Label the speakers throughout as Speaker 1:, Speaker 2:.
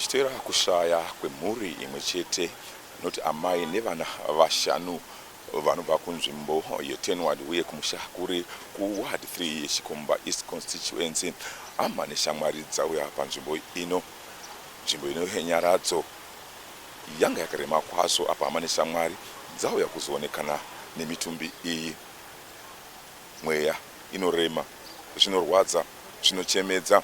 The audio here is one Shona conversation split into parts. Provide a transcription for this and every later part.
Speaker 1: zvichitera kushaya kwemhuri imwe chete inoti amai nevana vashanu vanobva kunzvimbo yetenward uye kumusha kuri kuward 3 yechikomba east constituency hama neshamwari dzauya panzvimbo ino nzvimbo ino yenyaradzo Yanga yakarema kwazvo apa hama neshamwari dzauya kuzoonekana nemitumbi iyi. Mweya inorema, zvinorwadza, zvinochemedza.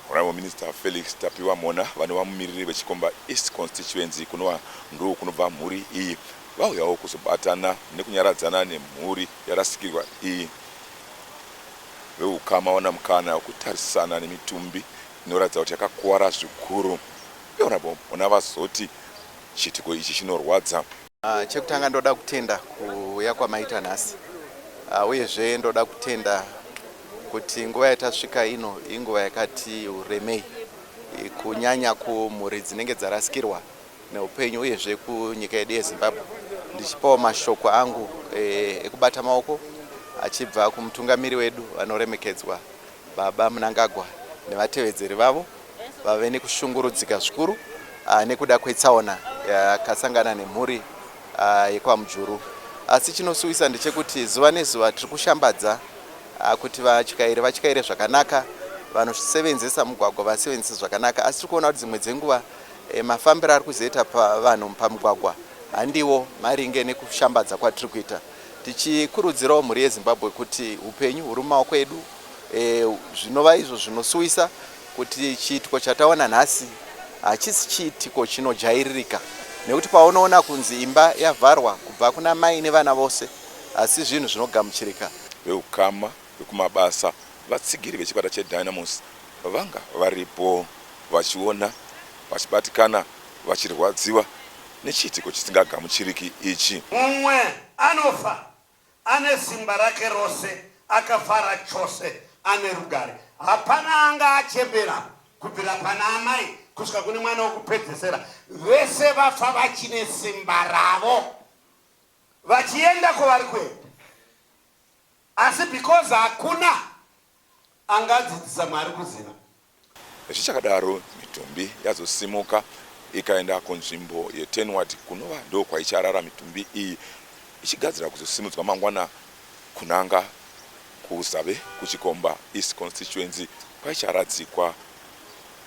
Speaker 1: Honourable Minister Felix Tapiwa Mhona vanova mumiriri veChikomba East Constituency kunova ndoo kunobva mhuri iyi vauyawo kuzobatana nekunyaradzana nemhuri yarasikirwa iyi. Veukama wana mukana wekutarisana nemitumbi inoratidza kuti yakakuvara zvikuru. Honorable Ona vazoti chiitiko ichi chinorwadza. Uh, chekutanga ndoda kutenda kuuya kwamaita nhasi uh, uyezve ndoda kutenda kuti nguva yatasvika ino inguva yakati uremei kunyanya kumhuri dzinenge dzarasikirwa neupenyu uyezve kunyika yedu yezimbabwe ndichipawo mashoko angu eh, ekubata maoko achibva kumutungamiri wedu vanoremekedzwa baba munangagwa nevatevedzeri vavo vave nekushungurudzika zvikuru ah, nekuda kwetsaona yakasangana nemhuri ah, yekwaMujuru. Asi chinosuwisa ndechekuti zuva nezuva tiri kushambadza ah, kuti vatyairi vatyaire zvakanaka, vanosevenzesa mugwagwa vasevenzese zvakanaka. Asi tiri kuona kuti dzimwe dzenguva eh, mafambiro ari kuzoita vanhu pamugwagwa handiwo maringe nekushambadza kwatiri kuita tichikurudzirawo mhuri yezimbabwe kuti upenyu huri mumaoko edu e, zvinova izvo zvinosuwisa kuti chiitiko chataona nhasi hachisi chiitiko chinojairirika nekuti paunoona kunzi imba yavharwa kubva kuna mai nevana vose asi zvinhu zvinogamuchirika. Veukama vekumabasa, vatsigiri vechikwata cheDynamos vanga varipo vachiona vachibatikana vachirwadziwa nechiitiko chisingagamuchiriki ichi. Mumwe anofa Ane simba rake rose, akafara chose, ane rugare. Hapana anga achembera, kubvira pana amai kusvika kune mwana wokupedzesera. Vese vafa vachine simba ravo, vachienda kwavari kuenda. Asi because hakuna angadzidzisa Mwari kuziva. Zvichakadaro, mitumbi yazosimuka ikaenda kunzvimbo yeTenward kunova ndokwaicharara mitumbi iyi ichigadzirira kuzosimudzwa mangwana kunanga kuZave kuChikomba East Constituency kwaicharadzikwa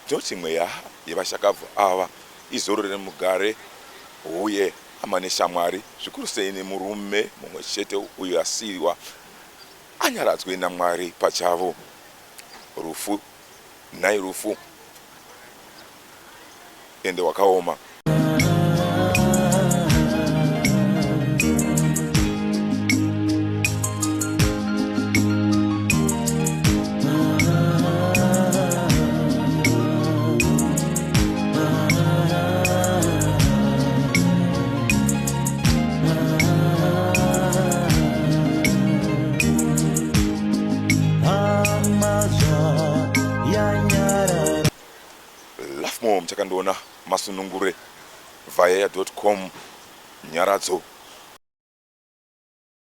Speaker 1: tinoti mweya yevashakabvu ava izororere mugare uye hama neshamwari zvikuru sei nemurume mumwe chete uyo asiiwa Anyaradzwe naMwari pachavo. Rufu nhai rufu ende wakaoma. muchakandiona masunungure vayaya com nyaradzo